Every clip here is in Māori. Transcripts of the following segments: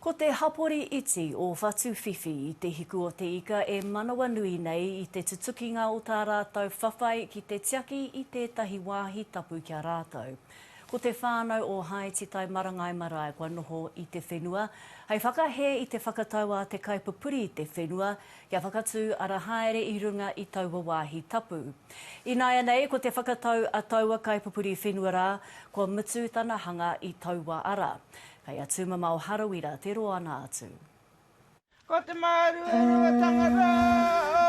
Ko te hapori iti o Whatuwhiwhi i Te Hiku o te Ika e manawanui nei i te tutukinga o tā rātou whawhai ki te tiaki i tētahi wāhi tapu ki a rātou. Ko te whānau o Haetitai Marangai Marae kua noho i te whenua hei whakahē i te whakatau a te kaipupuri i te whenua kia whakatū ara haere i runga i taua wāhi tapu. Ināianei ko te whakatau a taua kaipupuri whenua rā kua mutu tana hanga i taua ara. Kei a Tumamao Harawira te roa na atu. Ko te maru e runga tangata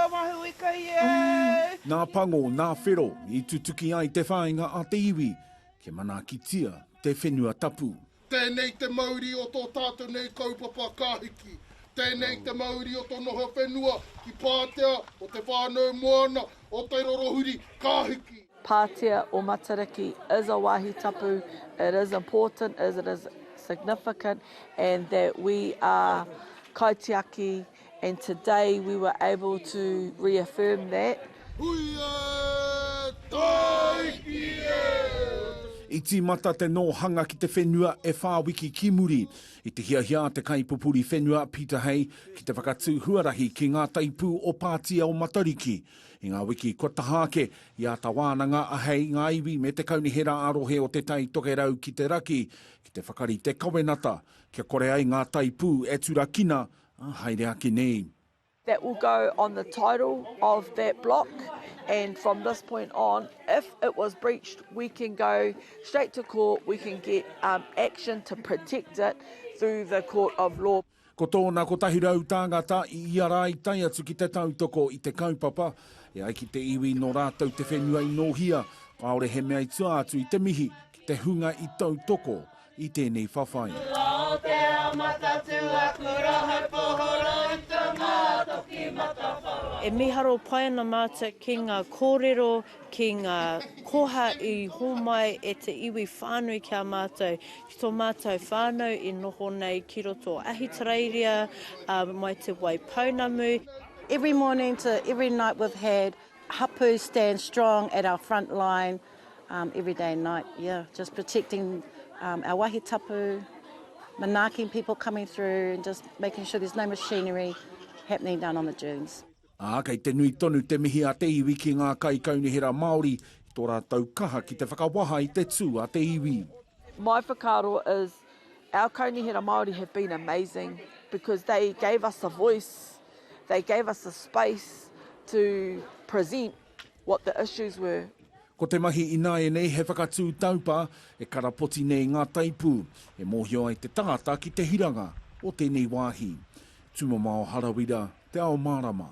o Mahui kai e. Nā Pango, nā Whero i tutuki ai te whāinga a te iwi kia manaakitia te whenua tapu. Tēnei te mauri o tō tātou nei kaupapa ka hiki. Tēnei te mauri o tō noho whenua ki Pātea, o te whānau moana, o te rorohuri ka hiki. Pātea o Matariki is a wāhi tapu, it is important, it is significant and that we are kaitiaki and today we were able to reaffirm that. Hui e! Tāiki e! I tīmata te nōhanga ki te whenua e whā wiki ki muri. I te hiahia a te kaipupuri whenua, Peter Hay, ki te whakatū huarahi ki ngā taipū o Pātea o Matariki. I ngā wiki kua taha ake, i āta wānanga a Hei, ngā iwi me te kaunihera ā-rohe o Te Tai Tokerau ki te raki ki te whakarite kawenata kia kore ai ngā taipū e turakina, ā, haere ake nei. That will go on the title of that block and from this point on if it was breached we can go straight to court, we can get action to protect it through the court of law. Ko tōna kotahi rau tāngata i ia rā i tae atu ki te tautoko i te kaupapa, e ai ki te iwi nō rātou te whenua i nōhia, kāore he mea i tua atu i te mihi ki te hunga i tautoko i tēnei whawhai. E miharo pai ana mātou ki ngā kōrero, ki ngā koha i hōmai e te iwi whānui ki a mātou, Ki tō mātou whānau i noho nei ki roto o Ahitereiria, mai te Wai Pounamu. Every morning to every night we've had hapu stand strong at our front line every day and night, yeah, just protecting our wahi tapu, manaaking people coming through and just making sure there's no machinery happening down on the dunes. Ā, kei te nui tonu te mihi a te iwi ki ngā kaikaunihera Māori i tō rātou kaha ki te whakawaha i te tū a te iwi. My whakaaro is our kaunihera Māori have been amazing because they gave us a voice, they gave us a space to present. what the issues were. Ko te mahi ināianei he whakatū taupā e karapoti nei ngā taipū e mōhio ai te tangata ki te hiranga o tēnei wāhi. Tūmamao Harawira, Te Ao Mārama.